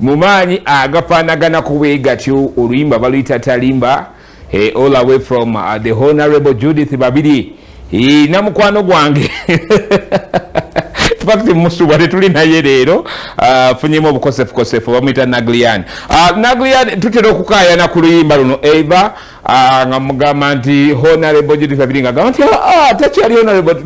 mu maanyi agafaanaganaku bwe gatyo oluyimba baluyita talimba eh, all away from uh, the honorable judith babiri eh, na mukwano gwange fakti musubwa tetuli naye leero uh, funyemu obukosefukosefu bamuyita naglian uh, naglian tutera okukayana ku luyimba luno eva uh, nga mugamba nti honorable judith babiri nga gamba nti ah, ah, takyali honorable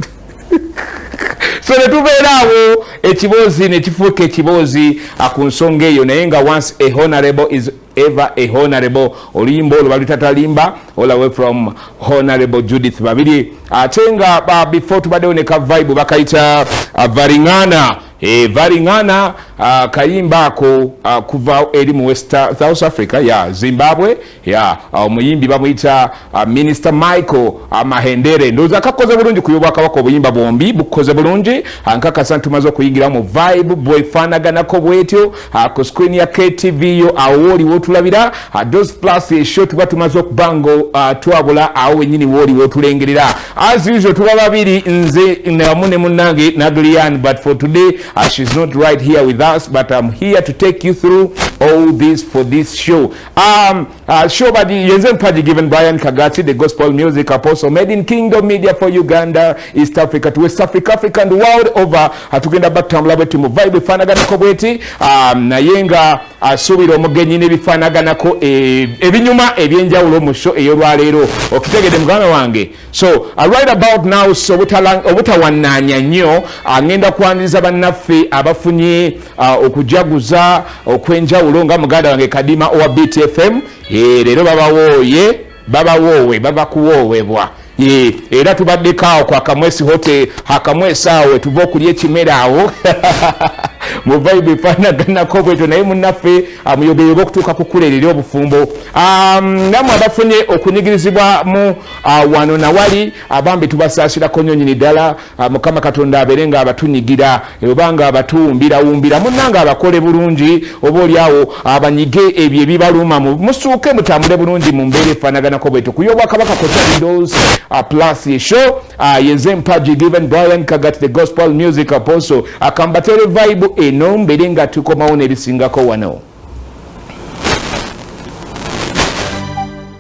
so netubeera awo ekiboozi nekifuuka ekiboozi ku nsonga eyo naye nga once a honorable is ever a honorable oluyimba olwo balutatalimba olawe from honorable judith babiri ate nga before tubaddewo ne ka vibe bakayita uh, varingana e, varingana uh, kayimba ako uh, kuva eri mu west south africa ya zimbabwe ya omuyimbi bamuyita uh, minister michael uh, mahendere ndowooza kakoze bulungi ku yobwakabaka obuyimba bwombi bukoze bulungi uh, nkakasa ntumaze okuyingira mu vibe bwefanaganako bwetyo ku screen ya ktv yo awo wooliwo otulabira dos plus esho tuba tumaze okuba nga twabula awo wenyini wooliwo otulengerera as usual tuba babiri nze namu ne munange nadrian but for today she's not right here with us but im here to take you through all this for this show Um, uh, show by the Yenzen Paji given Brian Kagati, the gospel music apostle made in Kingdom Media for Uganda, East Africa to West Africa, Africa and the world over. Atugenda batambula bwetu mu vibe fanaganako bweti um, naye nga asuubira uh, omugenyi n'ebifaanaganako eh, ebinyuma ebyenjawulo mu sho ey'olwaleero okitegedde muganda wange so uh, right about now so obutawananya nnyo angenda uh, kwaniriza bannaffe abafunye uh, okujaguza okwenjawulo nga muganda wange kadima owa btfm eh, leero babawooye babawoowe babakuwoowebwa eh, era tubaddeko awo ku akamwesi hote akamwesi awo etuva okulya ekimera awo mu vibe efanaganako bwetyo naye munaffe amuyogeyoga ah, okutuuka ku kukuleerera obufumbo um, namwe abafunye okunyigirizibwa mu Ah, wano nawali abambi ah, tubasasirako nyo nyini ddala ah, mukama katonda abere nga abatunyigira oba nga abatuwumbirawumbira munanga abakole bulungi oba oliawo abanyige ebyo ebibaluma musuuke mutambule bulungi mu mbeera efanaganako bwetu kuyo obwakabaka kotalidos plus esho yeze mpaji given brian kagat the gospel music apostle akambatere vibe eno mbere nga tukomawo nebisingako wano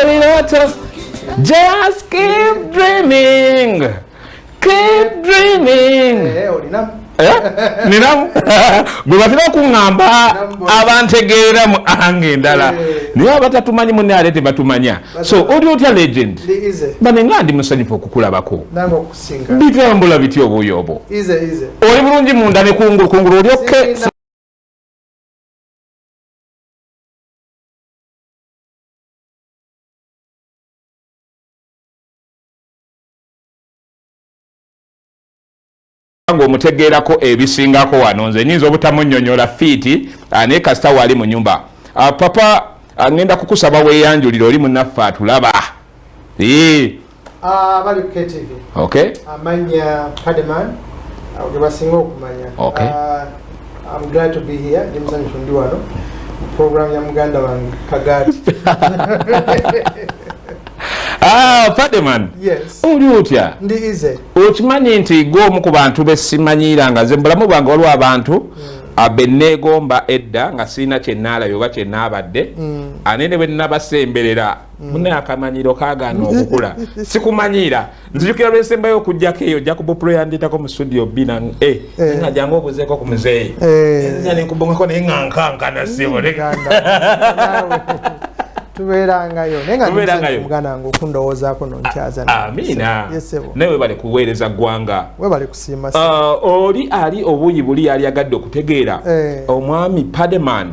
ebirooto just keep dreaming keep dreaming eh, eh? ninamu gwe batera okuŋŋamba abantegeera mu anga endala eh. naye abatatumanyi mune ate tebatumanya so oli otya legend bane nga ndi musanyufu okukulabako bitambula bitya obuyobo oli bulungi munda nekungulu kungulu oli okke nga omutegeerako ebisingako wano nze nyinza obutamunyonyola fiiti ah, naye kasita waali mu nyumba ah, papa ah, ngenda kukusaba weyanjulire oli munaffe atulaba Ah, bali ku KTV. Okay. Amanya Pademan. Uh, Gebasinga okumanya. Okay. Uh, I'm glad to be here. Ndi muzanyi fundi wano. Program ya muganda wange Kagati. Ah, Pademan. Yes. Uli utya? Ndi ize. Ukimanyi nti go omu ku bantu besimanyira nga ze mbulamu bwange waliwo abantu mm. abeneegomba edda nga sirina kye naalabye oba kye naabadde mm. ane ne bwe nabasemberera Mm. mune akamanyiro kagana okukula sikumanyira nzijukira lwesembayo okujjako eyo jacob pulo yanditako mu studio b na e eh. nga jangu obuzeeko ku muzeeyi eh. nga nenkubongako naye nga nkankana sibotubeerangayo nayengaange okundowoozaako nonkyazanewe bale kuweereza ggwanga webale kusiima ah, oli ali obuuyi buli yali agadde okutegeera eh. omwami pademan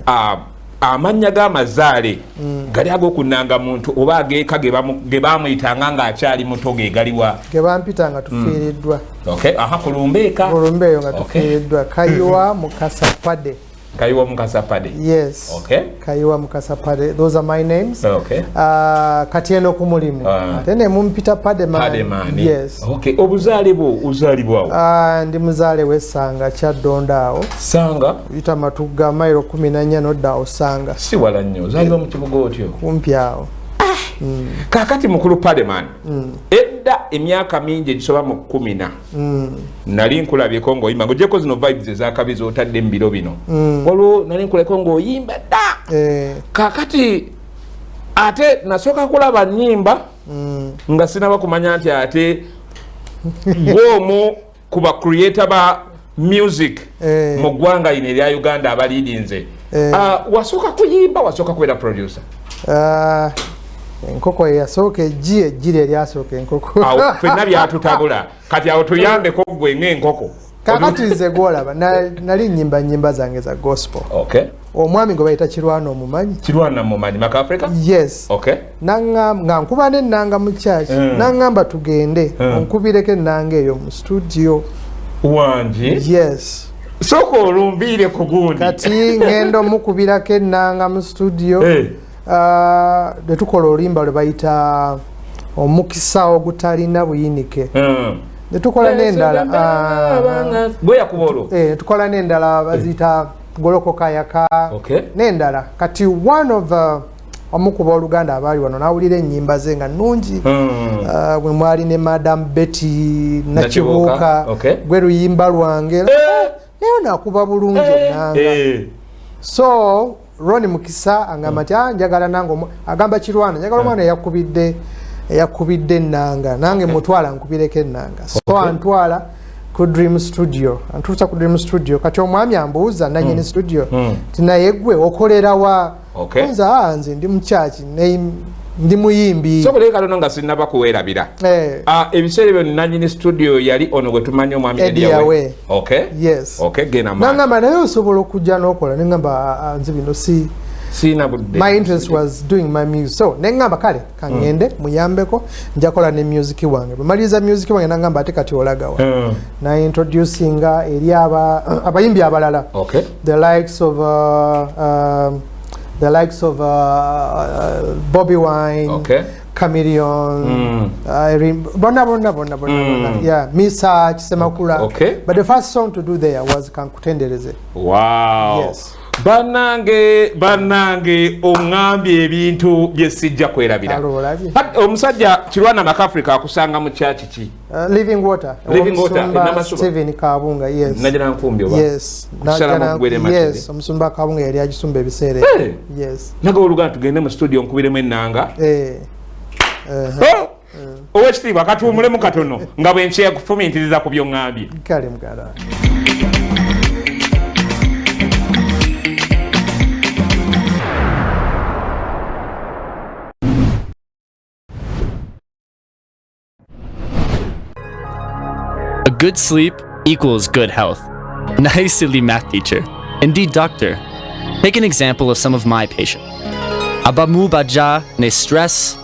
ah, amannya g'amazaale mm. gali ag'okunanga muntu oba ageeka ge baamuyitanga ng'akyali muto ge galiwa ge bampita nga tufiiriddwa mm. aha ku lumbeeka ku lumbe eyo nga tufiiriddwa kayiwa mukasa pade kayiwa mukasa pade yes okay. kayiwa mukasa pade those are my names okay. uh, kati eno ku mulimu ah. ate uh, ne mumpita pade man yes okay. obuzaale bwo uzaalibwawo uh, ndi muzaale w'essanga kyaddonda awo sanga yita matugga mairo kumi nanya nodda osanga si wala nnyo zaliba mu kibuga otyo kumpi awo ah! mm. kakati mukulu paleman mm. edda emyaka mingi egisoba mu kumina mm. nali nkulabyeko ngaoyimba ngaogyeko zino vibes ezakabi zotadde mu biro bino mm. waliwo nali nkuleko ngaoyimba dda eh. kakati ate nasooka kulaba nyimba mm. nga sinaba kumanya nti ate gwomu ku ba creator ba music eh. mu ggwanga ino erya uganda abaliidinze eh. ah, wasooka kuyimba wasooka kubeera producer ah, enkoko eyasooka ejji ejjiri eryasooka enkoko fenna byatutabula kati awo tuyambeko gwe ngaenkoko kakati nze gwolaba nali nyimba nyimba zange za gospel okay. omwami gwe bayita kirwana omumanyi kirwana mumanyi maka africa yes okay nangamba nga nkuba ne nanga mu church mm. nangamba tugende mm. onkubireko enanga eyo mu studio wangi yes soko olumbiire ku gundi kati ngendo mukubirako enanga mu studio hey. Eh. uh, ah, netukola olimba lwe bayita omukisa ogutalina buyinike mm. netukola nendala uh, ah. tukola nendala bazita mm. golokoka yaka okay. nendala kati one of uh, omu ku booluganda abaali wano n'awulira ennyimba ze nga nnungi hmm. uh, bwe mwali ne madam betty nakibuuka gwe luyimba lwange eh! naye nakuba bulungi eh! nanga eh! so roni mukisa angamba nti ah, njagala nange agamba kirwana njagala omwana eyakubidde eyakubidde ennanga nange mutwala nkubireko ennanga so antwala ku dream studio ntuusa ku dream studio kati omwami ambuuza nanyini hmm. studio hmm. ti naye gwe okolerawa nze aa nze ndi mukyaki ndi muyimbi soboleye katono nga sinaba kuwerabira eh. ah, ebiseera ebyo nanyini studio yali ono gwe tumanyi omwami ediyawe nangamba naye osobola okujja nokola nengamba ah, ah, nze bino si sina budde my interest was doing my music so nengamba kale kangende mm. muyambeko njakola ne music wange bwemaliriza music wange nangamba ate kati olagawa mm. na introducinga eri aba abayimbi abalala okay. the likes of uh, uh, the likes of uh, uh, bobby wine okay. Chameleon, mm. Irene, bona bona bona bona mm. bona. Yeah, Misa Chisemakula. Okay. But the first song to do there was Kankutendereze. Wow. Yes. banange banange ongambye ebintu byesijja kwerabira omusajja kirwana makafrica akusanga mu kyaki ki omusumba kabunga yali agisumba ebiseera naga oluganda tugende mu studio nkubiremu enanga eh. oh! owekitiibwa katuwumulemu katono nga bwenkyeya kufumintiriza ku byoŋambye kale mugala A good sleep equals good health. Nice silly math teacher. Indeed, doctor. Take an example of some of my patients. Abamu baja ne stress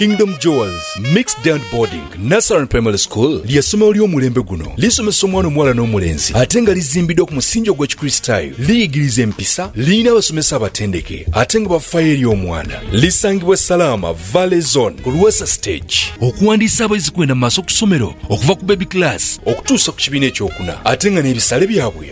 Kingdom Jewels Mixed Down Boarding Nasaran Primary School ly'essomero ly'omulembe guno lisomesa omwana omuwala n'omulenzi ate nga lizimbiddwa ku musingi ogw'ekikristaayo liyigiriza empisa lirina abasomesa abatendeke ate nga bafayo eri omwana lisangibwa salaama valley zone ku lwasa stage okuwandiisa abayizi kwenda mu maaso ku ssomero okuva ku baby class okutuusa ku kibiina ekyokuna ate nga n'ebisale byabwe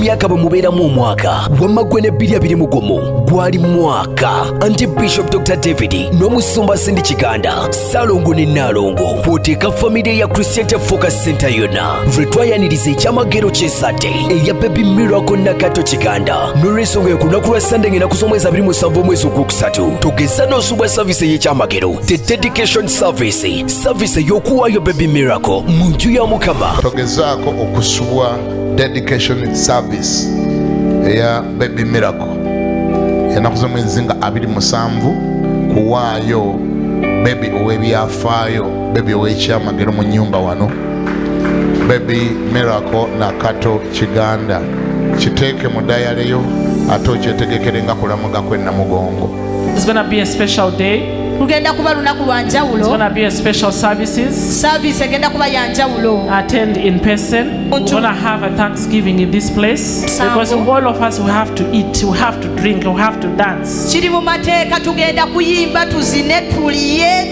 myaka bwe mubeeramu omwaka wamma gwe ne bbiri abiri mugumu gwali mwaka anti bishop dr david n'omusumba sindi kiganda salongo ne naalongo kwoteeka famire ya christianity focus center yonna lwe twayaniriza ekyamagero ky'esate eya baby miracle nakato kiganda n'olwensonga eyo ku lunaku lwa sande ng'enaku z'omwezi abiri musanvu omwezi ogwokusatu tugeza n'osubwa saviisi ey'ekyamagero the dedication service saviisi ey'okuwaayo baby miracle mu nju ya mukama togezaako okusubwa dedication service eya baby miracle enaku z'omwezi nga abiri musanvu kuwaayo bebi ow'ebyafaayo bebi ow'ekyamagero mu nyumba wano bebi miracle nakato kiganda kiteeke mu dayaleyo ate okyetegekere nga kulamuga kwe namugongo lugenda kuba lunaku lwa njawulo service egenda kuba ya njawulo attend in person we're going to have a thanksgiving in this place because all of us we have to eat we have to drink we have to dance kiri mu mateeka tugenda kuyimba tuzine tuliye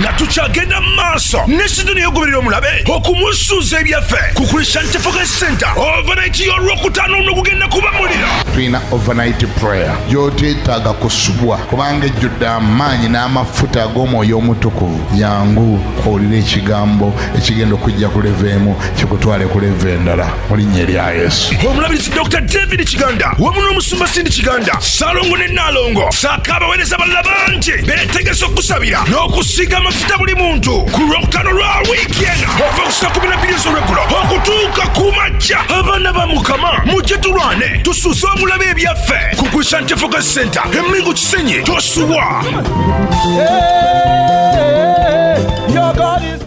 nga tukyagenda mu maaso ne sizoni eyogoberera omulabe okumusuuza ebyaffe ku christian tefoka center overnight y'olwokutaano luno gugenda kuba muliro tulina overnight prayer gyoteetaaga kusubwa kubanga ejjudde amaanyi n'amafuta ag'omwoyo omutukuvu yangu owulire ekigambo ekigenda okujja ku leva emu kikutwale ku leva endala mu linnya erya yesu omulabirizi dr david kiganda wamu n'omusumba sindi kiganda salongo ne naalongo saako abaweereza balala bangi beetegese okusabira n'okusiiga amafuta buli muntu ku lwokutano lwa wiiki eno ova ku saa kumi na bbiri ez'olweggulo okutuuka ku majja abaana ba mukama mujje tulwane tusuze omulabe ebyaffe ku christian tefoka center emingu kisenyi tosuwa yeah, yeah, yeah.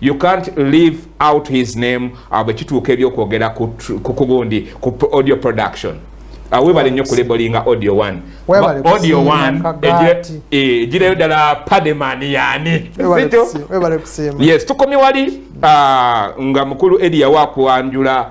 you can't leave out his name uh, bwekituuka ebyokwogera kukugundi ku audio production uh, webale nnyo kulebolinga audio one audio one egireyo e, ddala pademan yani yes tukomye wali uh, nga mukulu edi yawa kwanjula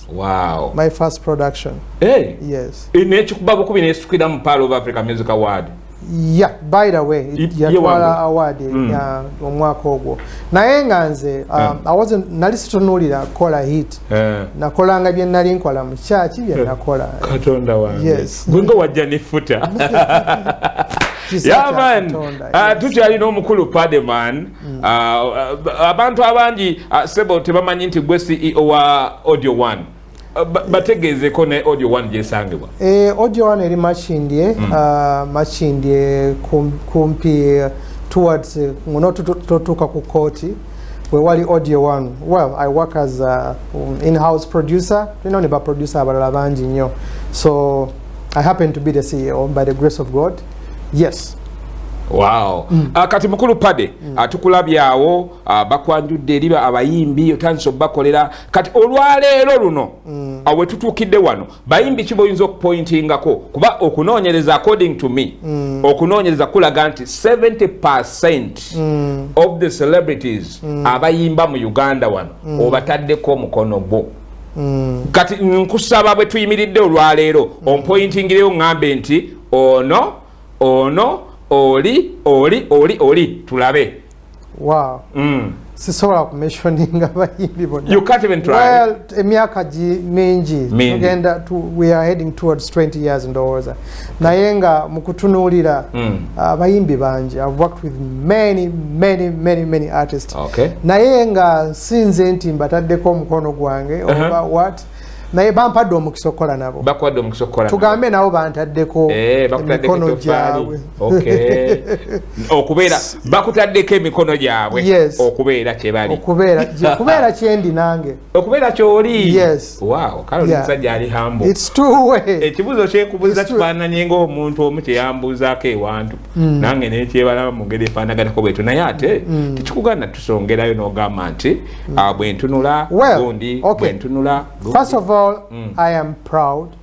Wow. My first production. Hey. Yes. In each babu kubi ne sukira mu Pearl of Africa Music Award. Yeah, by the way, it ya twala award mm. ya omwaka ogwo. Naye nga nze um, yeah. I wasn't nali situnulira kola hit. Yeah. Nakola nga bye nali nkola mu church bye yeah. nakola. Katonda wange. Yes. Gwingo wajja ne futa. yeah man. Uh, tuti ali no mukulu Pademan. Mm. Ah, ah, abantu abangi ah, sebo tebamanyi nti gwe ceo wa audio one bategeezeko ne audio one gyesangibwa eh, audio one eri makindye mm. makindye kumpi towards eh, ngono totuuka ku kooti wewali audio one well i work as a um, inhouse producer tulinawo ne baproducer abalala bangi nnyo so i happen to be the ceo by the grace of god yes Wow. Mm. Uh, kati mukulu pade mm. Ah, atukulabyawo uh, ah, bakwanjudde eri abayimbi otandise okubakolera kati olwaleero luno mm. awe tutuukidde wano bayimbi ki boyinza okupointingako kuba okunoonyereza according to me mm. okunoonyereza kulaga nti 70 percent mm. of the celebrities mm. abayimba mu uganda wano mm. obataddeko omukono gwo mm. kati nkusaba bwe tuyimiridde olwaleero mm. ompointingireyo ngambe nti ono ono oli oli oli oli tulabe wow. mm. sisobola kumentioninga bayimbi bonaemyaka mingi tugenda we are heading towards 20 years ndowooza naye nga mukutunuulira hmm. abayimbi uh, bangi ive worked with many many many many artist okay. naye nga nsinze nti mbataddeko omukono gwange uh -huh. oba what naye bampadde omukisa okukola nabo bakwadde omukisa okukola tugambe nabo bantaddeko eh, emikono gyabwe okubeera bakutaddeko emikono gyabwe okubeera kyebali okubeera kyendi nange okubeera kyoli ekibuzo kyekubuza kifaananye ngaomuntu omu kyeyambuuzaako ewantu hmm. nange nekyebalaba mungeri efaanaganako bwetu naye ate hmm. tekikugana tusongerayo nogamba nti hmm. ah, bwentunula gundi bwentunula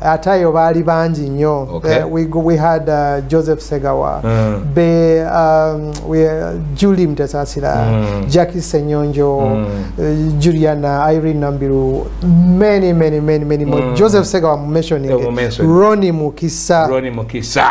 ate ayo baali bangi nnyo okay. uh, we, we had uh, joseph segawa mm. be um, we, uh, julie mtesasira mm. jacki senyonjo mm. uh, juliana irene nambiru many many many many mm. joseph segawa mumentioni roni mukisa roni mukisa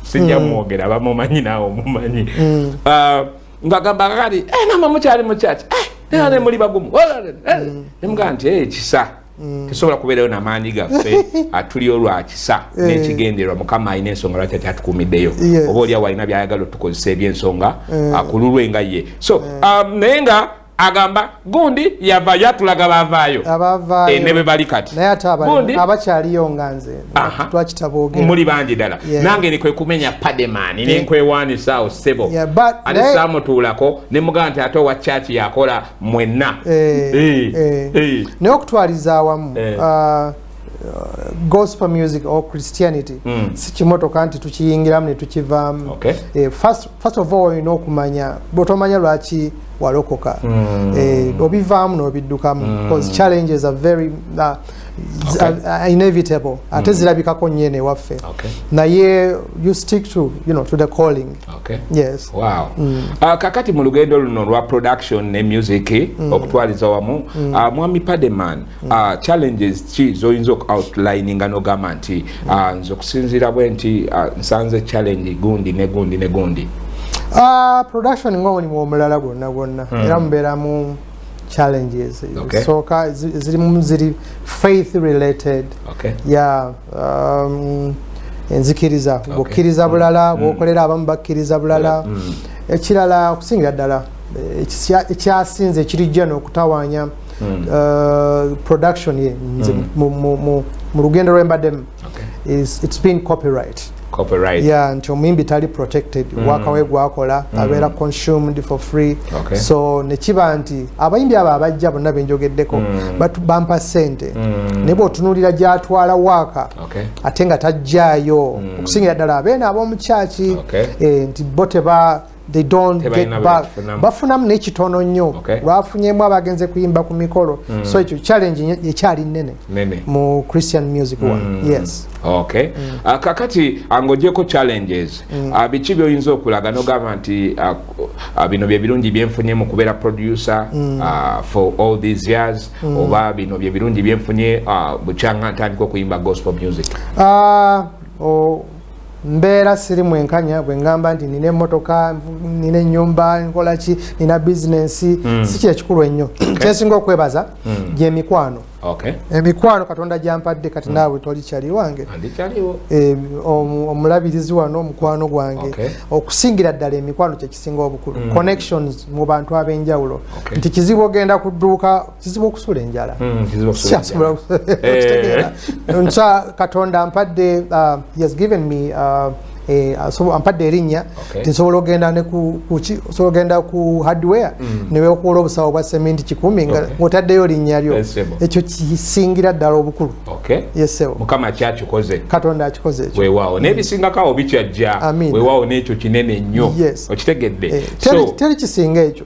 sijja hmm. mwogera bamumanyi naawe omumanyi hmm. ah, ngagamba kakati eh, nama mukyali mukyaki eh, nera hmm. nemuli bagumu eh, nemugaa nti ekisa tesobola kubeerayo namaanyi gaffe atuli olwakisa nekigenderwa mukama alina ensonga lwaki akyatukumiddeyo oba olyawo alina byayagala otukozesa ebyensonga akululwe nga ye so um, naye nga agamba gundi yavayo atulaga bavaayo eh, ne bwe bali kati naye ate abakyaliyo nga nze twakita boogera muli bangi ddala nange ni kwe kumenya pademani ne nkwewaanisa awo ssebo ate saamutuulako ne mugamba nti ate owa kyaki yakola mwenna eh, eh, naye okutwaliza awamu ah, gospel music or christianity mm. sikimotoka nti tukiyingiramu netukivaamu okay. eh, first, first of all olina okumanya bwotomanya lwaki walokoka mm. eh, obivaamu nobiddukamu mm. because challenges are very uh, okay. are, are inevitable ate mm. zirabikako nyene ewaffe okay. naye you stick to, you know, to the calling okay. yes. wow. mm. uh, kakati mu lugendo luno lwa production ne music mm. okutwaliza wamu mm. uh, mwami pademan Mm. Uh, challenges ki zoyinza oku outlining nga nogamba nti uh, nze okusinziira bwe nti uh, nsanze challenge gundi ne gundi ne gundi uh, production nga omulimu omulala gwonna gwonna mm. era mubeeramu challenges ezisooka okay. zirimu ziri faith related okay. yeah, um, enzikiriza okay. bukkiriza bulala mm. bwokolera abamu bakkiriza bulala mm. ekirala okusingira ddala eh, ekyasinze ekirijja n'okutawaanya mm. hmm. uh, production ye nze hmm. mu, mu, mu, mu lugendo lwembaddemu okay. it's been copyright copyright yeah nti omuyimbi tali protected mm. waka we gwakola mm. abeera consumed for free okay. so nekiba nti abayimbi abo abajja bonna benjogeddeko mm. but bampa sente mm. naye bwotunulira gyatwala waka okay. ate nga tajjayo mm. okusingira ddala abeena ab'omukyaki okay. eh, nti bo teba they don't Teba get back bafunamu nekitono nnyo okay. lwafunyemu abagenze kuyimba ku mikolo mm. so ekyo challenge ekyali nene mu christian music mm. one yes okay mm. uh, kakati angojeko challenges mm. uh, biki byoyinza okulaga nogamba nti uh, uh, bino byebirungi byenfunye mu kubeera producer mm. uh, for all these years mm. oba bino byebirungi byenfunye uh, bukyanga ntandika okuyimba gospel music uh, oh. mbeera siri mwenkanya bwe ngamba nti nina emotoka nina enyumba nkolaki nina bizinensi mm. si kyekikulu ennyo okay. kyesinga okwebaza mm. gyemikwano okay. emikwano katonda gyampadde kati mm. naawe toli kyali wange e, omulabirizi wano omukwano gwange okay. okusingira ddala emikwano kyekisinga obukulu mm. connections mu bantu ab'enjawulo okay. nti kizibu ogenda ku dduuka kizibu okusula enjala kyasobola okitegeera nkya katonda mpadde uh, has given me uh, Eh, ampadde erinnya nti nsobola ogenda osobola ogenda ku hardware mm. newekola obusawo bwa sementi kikumi ngaotaddeyo linnya lyo ekyo kisingira ddala obukulu mukama kyakikoze katonda akikoze ekyo wewaawo naye mm. bisingakawo bikyajja wewaawo n'ekyo kinene nnyo okitegedde eh, teri kisinga ekyo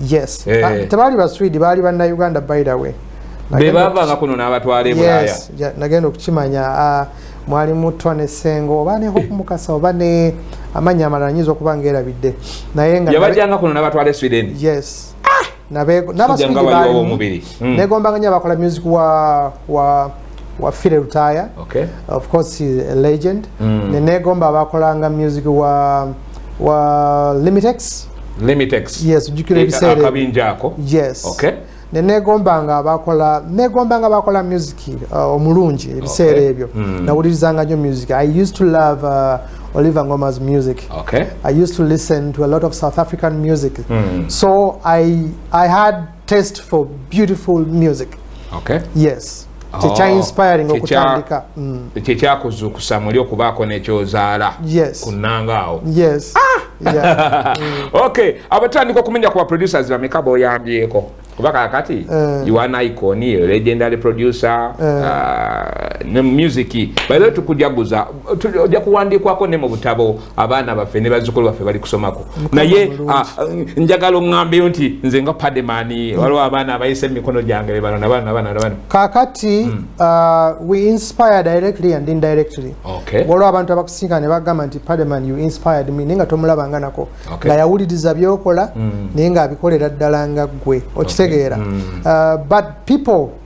yes eh. ah, tebaali ba swede baali banna uganda by the way bebavanga kuno nabatwala ebulaya nagenda okukimanya ah, mwali mutwa ne sengo oba ne hope mukasa oba ne amanya amalala nyinza okuba nga erabidde naye nga yabajanga kuno nabatwala e sweden yes ah! nabaswedebali hmm. negombanga nyo abakola music wa wa wa file lutaya okay. of course a legend mm. nenegomba abakolanga music wa wa limitex limiteakabinja eh, ako nenegombanga abakola negombanga bakola music uh, omulungi uh, ebiseera okay. ebyo mm. nawulirizanga nyo music i used to love uh, oliver ngoma's music okay. i used to listen to a lot of south african music mm. so I, i had taste for beautiful music okay. yes oh, kyekyainspiring okutandika mm. kyekyakuzuukusa muli okubaako nekyozaala kunanga awo yes ah! Mm. okay abatandika okumenya ku baproducers bameka boyambyeko kuba kakati eh. you are icon a legendary producer eh. uh, ne music bayo tukujaguza ojja kuwandiikwako ne mu butabo abaana baffe ne bazukulu baffe bali kusomako naye ah, njagala oŋambeyo nti nze nga pademani mm. waliwo abaana abayisa emikono gyange bebano nabano nabano nabano kakati mm. ah, we inspire directly and indirectly waliwo abantu abakusinga ne bagamba nti pademan you inspired me naye nga tomulabanga nako nga yawuliriza byokola mm. naye nga abikolera ddala nga ggwe okitegeera ah, but people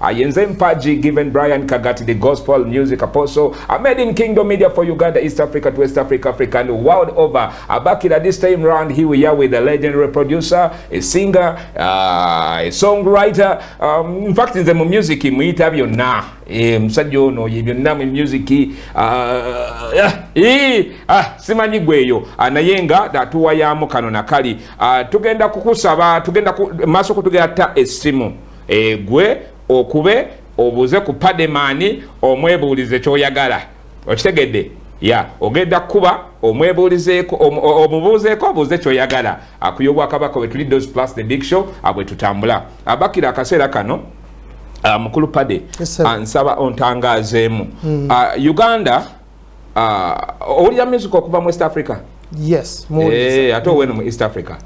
Ayenze Mpaji, given Brian Kagati, the gospel music apostle, a made in Kingdom Media for Uganda, East Africa to West Africa, Africa, and world over. Abakira this time round, here we are with a legendary producer, a singer, uh, a songwriter. Um, in fact, in the music, muyita byonna. Eh, musajja ono ye byonna mu music uh, eh, ah, simanyi gweyo ah, naye nga datuwayamu kano nakali ah, tugenda kukusaba tugenda maaso kutugera ta esimu egwe okube obuuze ku pademaani omwebuulize kyoyagala okitegedde ya ogenda kukuba omwebuulizeeko omubuuzeeko obuuze kyoyagala akuya obwakabaka wetuli dos plus the big show abwe tutambula abakira akaseera kano ah, mukulu pade ansaba ontangazeemu hmm. ah, uganda Ah, owulira music okuva mu west africa yes eh, ate oweno mu east africa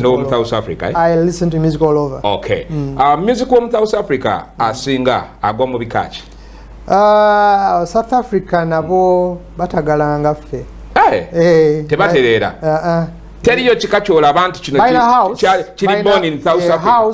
nomu south africa eh? ok mm. ah, music womu south africa asinga agwa mu bikaki ah, south africa nabo batagalanga ffe eh, tebatereera teriyo kika kyolaba nti kino kiri born in south africa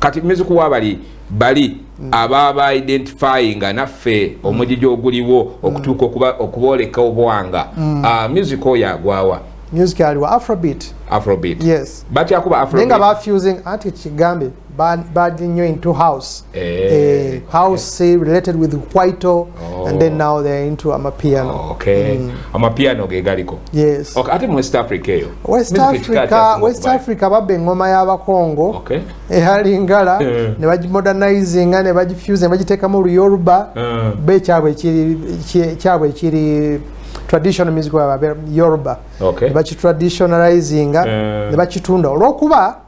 kati mizuku wabali bali mm. ababa identifying naffe mm. omujiji oguliwo mm. okutuuka okuba okuboleka obwanga mm. uh, ah, music oyo agwawa music aliwa afrobeat afrobeat yes but yakuba afrobeat ninga ba fusing ati kigambe bad bad new into house eh, eh house eh. related with white Oh. And then now they're into amapiano. Oh, okay. Mm. Amapiano ge galiko. Yes. Okay, ate mu West Africa eyo. West Music Africa, West kubai. Africa babbe ngoma ya bakongo. Okay. Ehali ngala eh. ne baji modernizing ne baji fuse ne baji teka mu Yoruba. Eh. Be kyabwe kiri kyabwe kiri traditional music wa Yoruba. Okay. Ne baji traditionalizing eh. ne baji tunda. Olokuba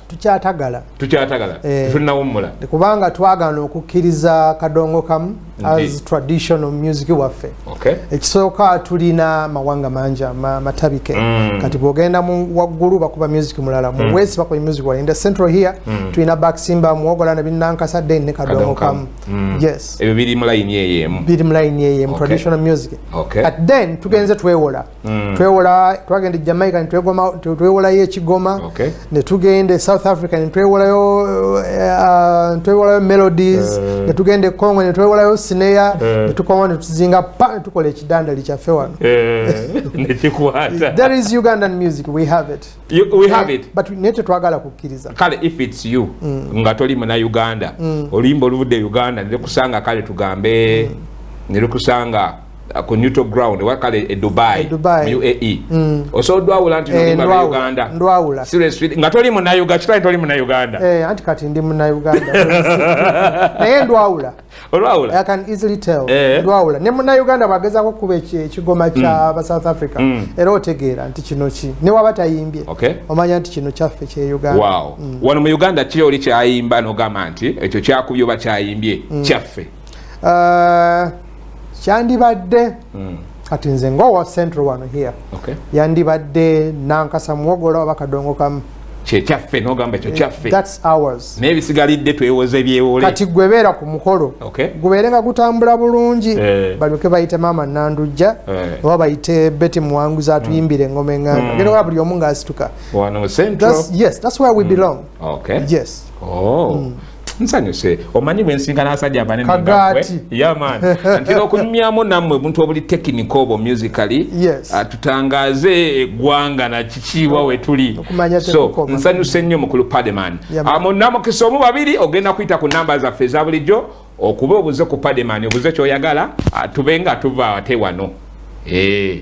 tukyatagala tukyatagala eh, tetulinawummula kubanga twagana okukkiriza kadongo kamu as traditional music waffe ekisooka tulina mawanga mangi matabike mm. kati bwogenda waggulu bakuba music mulala mu mm. west bakuba music wala inda central here mm. tulina baksimba muwogola ne binankasa den ne kadongo kamu yes ebyo biri mu layini eyemu biri mu layini eyemu traditional music kati then tugenze twewola Mm. twewola twagenda e jamaica netwewolayo ekigoma okay. netugenda e south africa netwewolayo uh, uh twewolayo melodies uh. netugenda e congo netwewolayo sineya uh. Eh. netukoma netuzinga pa netukola ekidandali kyaffe wano uh. there is ugandan music we have it you, we have it but naye tetwagala kukkiriza kale if its you mm. nga toli muna uganda mm. oluyimba oluvudde e uganda nekusanga kale tugambe mm. nerukusanga uh, ku neutral ground oba kale e dubai e uae mm. osobola odwawula nti eh, nolima uganda ndwawula seriously nga toli munayuga kitali toli munauganda eh, anti kati ndi munauganda naye ndwawula olwawula i can easily tell eh. ndwawula ne munauganda bwagezako okukuba ekigoma kya mm. ba south africa mm. era otegeera nti kino ki ne waba tayimbye okay. omanya nti kino kyaffe kye uganda wow. mm. wano mu uganda kiri oli kyayimba nogamba nti ekyo kyakubye oba kyayimbye mm. kyaffe uh, kyandibadde mm. kati nze ngaowa central wano here okay. yandibadde nankasa muwogola oba kadongo kamu kyekyaffe nogamba ekyo kyaffe naye bisigalidde twewoze byewole kati gwebeera ku mukolo okay. gubeere nga gutambula bulungi eh. balyoke bayite maama nandujja eh. oba bayite beti muwanguzi atuyimbire mm. engoma enganda mm. gera wa buli omu ngaasituka yes that's where we mm. belong okay. yes oh. mm. nsanyuse omanyi bwensinkana asajja abanene kagati yaman ntera okunyumyamu nammwe buntu obuli tekinika obwo musically yes. Ah, tutangaze eggwanga na kikiibwa wetuli so nsanyuse nnyo mukulu pademan amo ah, namukisa omu babiri ogenda kuyita ku namba zaffe eza bulijjo okuba obuze ku pademan obuze kyoyagala ah, tube nga tuva ate wano hey. Eh.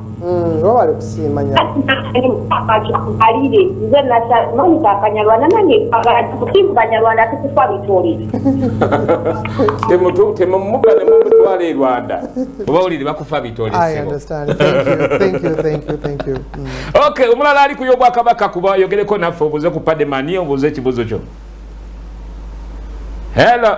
Mm, webale kusiima nyobalire nze namanyi kakanyarwanda nange mukimu banyarwanda tukufa bitole temumuka nemumutwala e rwanda obawulire bakufa bitole mm. ok omulala ali kuyo obwakabaka kuba yogereko naffe obuze ku pademani obuze ekibuzo kyo helo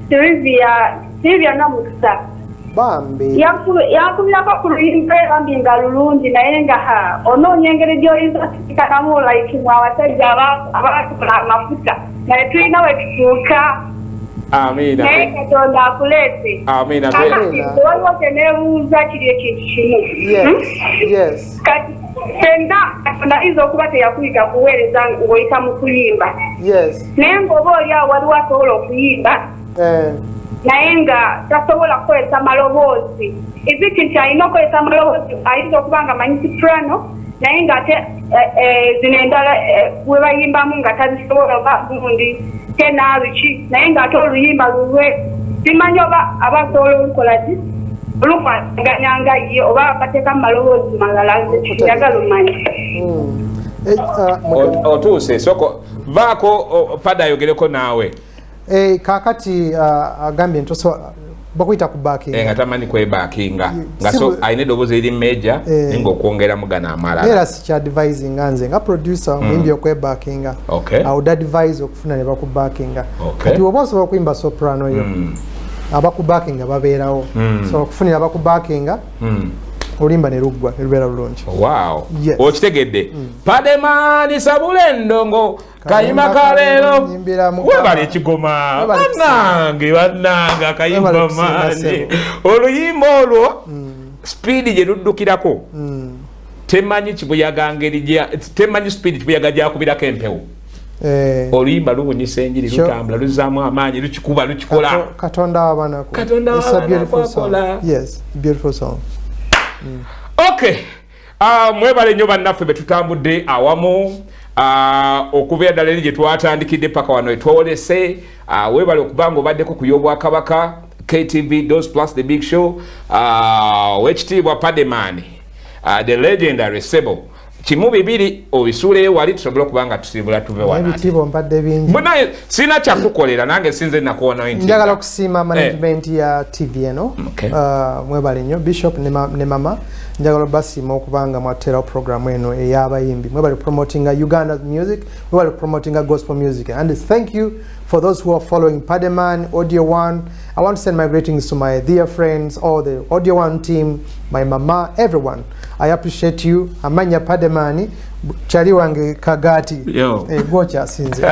Sylvia Sylvia Namukisa bambi yankubirako ku luyimba bambi nga lulungi naye nga onoonya engeri gy'oyinza okusikanamu like mu abasajja abaatula amafuta naye tulina we tutuuka amiina naye katonda akuleete amiina waliwo kyeneebuuza kiri ekintu kimu hmm? kati senna katonda ayinza okuba teyakuyiga kuweereza ng'oyita mu kuyimba naye ngaoba oli awo waliwo asobola okuyimba eh. naye nga tasobola kukozesa maloboozi eziti nti alina okukozesa amaloboozi ayinza okuba nga manyi sifurano naye ngaate eh, eh, zino endala webayimbamu nga tazisobola oba gundi tenabiki naye ngaate oluyimba lulwe simanyi oba aba asobola olukola ki olukwataganya nga ye oba bateka mu maloboozi malala njagala omanya hmm. eh, ah, otuuse soko vaako pada ayogereko naawe eh, kakati uh, agambye nti bakuyita ku bakinga eh, nga tamanyi kwebakinga nga so alina eddoboozi eri meja eh. naye ngaokwongera mugana amalala era sikyadvise nga nze nga producer hmm. omuyimbi okwebakinga awud advise okufuna ne bakubakinga kati oba osobola okuyimba soprano yo hmm. abakubakinga babeerawo hmm. so okufunira abakubakinga hmm. olimba ne luggwa ne lubeera lulungi okitegedde hmm. pademani sabula endongo kayima kaleero webali ekigoma banange banange akayimba maani oluyimba olwo hmm. sipiidi gye luddukirako temanyi kibuyaga ngeri temanyi sipiidi kibuyaga gyakubirako empewo Eh. oluyimba lubunyisa enjiri lutambula luzaamu amaanyi lukikuba lukikola katonda wabanakolakola mm. ok ah, mwebale nyo bannaffe betutambudde awamu ah, okubeera ddala eri gyetwatandikidde paka wano etwolese ah, webale okubanga obaddeko ku yobwakabaka ktv dos plus the big show owekitiibwa pademani the legendary sebo kimu bibiri obisuuleyo wali tusobole okuba nga tusiibula tuve wanaebitiibwa mbadde bingi munaye sirina kyakukolera nange sinze nakuwonawo nti njagala okusiima eh. management ya tv eno uh, mwebale nnyo bishop ne mama njagala basiima okuba nga mwateerawo programu eno ey'abayimbi mwebale promotinga uganda music mwebale promotinga gospel music and thank you for those who are following pademan audio one i want to send my greetings to my dear friends all the audio one team my mama everyone I appreciate you amanya pademani chali wange kagati eh, gwokyasinze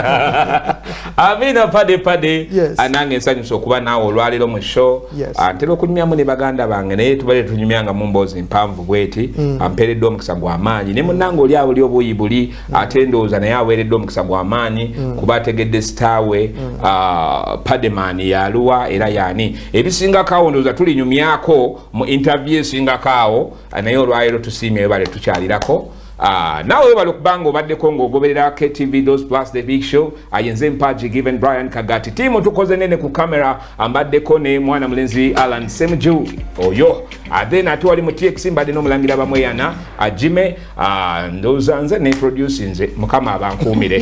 amina pade pade yes. anange nsanyusa okuba naawe olwaliro mu show yes. antera okunyumyamu ne baganda bange naye tubale tunyumya nga mumboozi mpanvu bweti mm. ampeereddwa omukisa gwa maanyi ne munange oli awo li obuuyi buli mm. ate ndowooza naye aweereddwa omukisa gwa maanyi mm. kuba ategedde sitaawe mm. uh, ah, pademani yaluwa era yaani ebisingako awo ndowooza tulinyumyako mu interview esingako awo naye olwaleero tusiimye webale tukyalirako Ah, nawe webale okuba nga obaddeko ngaogoberera ktv dos plus the big show ayenze ah, mpaji given brian kagati tiimu tukoze nene ku kamera ambaddeko ne mwana mulenzi alan semju oyo athe ah, nate wali mu tx mbadde n'omulangira bamweyana ajime ndowooza nze ne produce nze mukama abankuumire